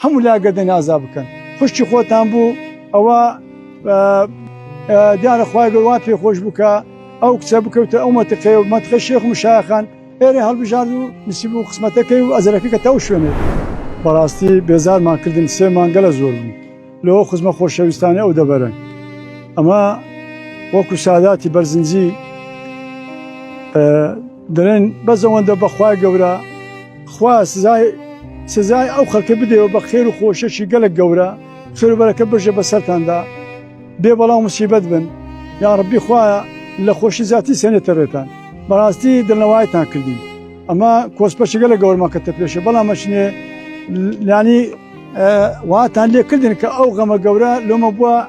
هەموو لا گەردن ئازا بکەن خوشکی خۆتان بوو ئەوە دیارە خخوای گەوا پێ خۆش بکە ئەو کچە بکەوتە ئەو مەتەقێ و مەتخە شێخ مشاخان ئێرە هەڵبژار و نسیب و قسمەتەکەی و ئەزرەکە کە تەو شوێنێ بەڕاستی بێزارمان کردن سێ مانگەلە زۆر بوو لەوە خزمە خۆشەویستانی ئەو دەبەرن ئەمە وەکو ساداتی بەرزنجی دەڵێن بەس ئەوەندە بەخوای گەورە خوا سزای سزای ئەو خەڵکە بدەوە بە خێر و خۆشەشی گەلک گەورە خێربەرەکە بژە بە سەرتاندا بێ بەڵام مسیبەت بن یا ڕبی خوایە لە خۆشی زیاتی سێنێتە ڕێتان بەڕاستی دڵنەوایتان کردین ئەمە کۆسپەچگە لە گەورمان کە تەپێشە بەڵام مەچنێ لانی واتان لێکردن کە ئەو غەمە گەورە لۆمە بووە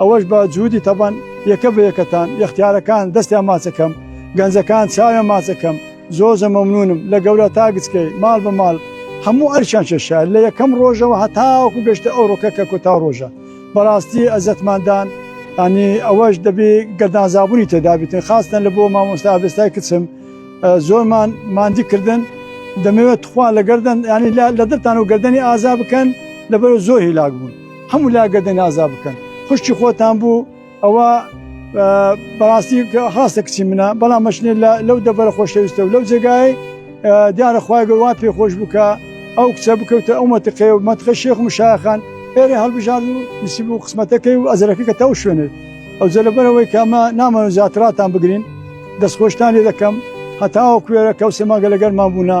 ئەوەش بە جهودی تەبەن یەکە بە یەکەتان یەختیارەکان دەستیان ماچە کەم گەنجەکان چاویان ماچە کەم زۆر زە مەمنونم لە گەورە تا گچکەی ماڵ بە ماڵ هەموو ئەرکیان کێشا لە یەکەم ڕۆژەوە هەتاوەکو گەشتە ئەو ڕۆکە کە کۆتا ڕۆژە بەڕاستی ئەزەتمان دان ئەنی ئەوەش دەبێ گەردانزابوونی تێدابیتن خاستن لە بۆ مامۆستا ئابستای کچم زۆرمان ماندی کردن دەمەوێت تخوا لە گەردن ینی لە دڵتان و گەردەنی ئازا بکەن لەبەر زۆر هیلاک بوون هەموو لا گەردن ئازا بکەن خوشکی خۆتان بوو ئەوە بەڕاستی خاستە کچی منە بەڵام مەشنێت لەو دەبەرە خۆشەویستە و لەو جێگای دیارە خخوای گەوا پێ خۆش بکە ئەو کچە بکەوتە ئەو مەتەقێ و مەتخە شێخ و مشاخان ئێرە هەڵبژار و نسیب و قسمەتەکەی و ئەزرەکە کە تاو شوێنێت ئەو جەلەبەرەوەی کامە نامە زیاتراتان بگرین دەستخۆشتان لێ دەکەم هەتاوە کوێرە کەوسێ ماگە لەگەرمان بوونا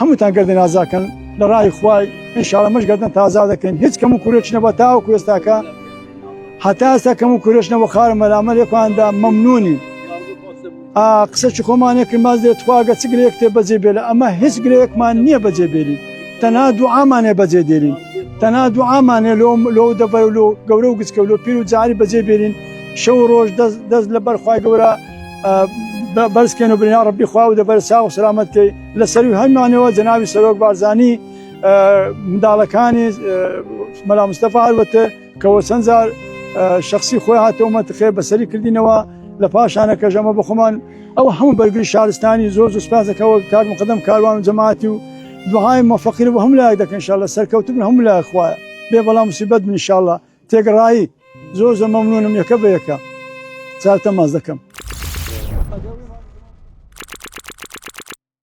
هەمووتان گەردن ئازاکەن لە ڕای خوای انشاءاللە مەش گەردن تازا دەکەین هیچ کەم و کورێکی نەبووە تاوەکو ئێستاکە هەتا ئێستا کەم و کورێش نەبوو خارە مەلامەلێکاندا مەمنونین قسەکی خۆمانێکن باز لێت خواگە چ گرێک تێ بەجێ بێ لە ئەمە هیچ گرێکمان نییە بەجێ بێری تەنا دوعامانێ بەجێ دێرین تەنا دوعامانێ لۆ لۆ دەبەر و لۆ گەورە و گچکە لۆ پیر و جاری بەجێ بێرین شەو ڕۆژ دەست لە بەرخوای گەورە بەرزکەن و برینا ڕبی خوا و دەبەر ساو سلامەتکەی لە سەروی هەموانەوە جەنابی سەرۆک بارزانی منداڵەکانی مەلا مستەفا هەروەتە کەەوە چەند جار شخصی خۆی هاتەوە مەتخێ بەسەری کردینەوە لە پاشانە کەژەمە بخۆمان ئەو هەموو بەرگری شارستانی زۆر زۆر سپاسەکەەوە کار مقدم کاروان و جەماعتی و دوهای مفەقیر بۆ هەم لایەک دەکەن شاء لە سەرکەوت بن هەموو لای خوایە بێ بەڵام مسیبەت بن شاء لە تێگەڕایی زۆر زە مەمنونم یەکە بە یەکە چاوتە ماز دەکەم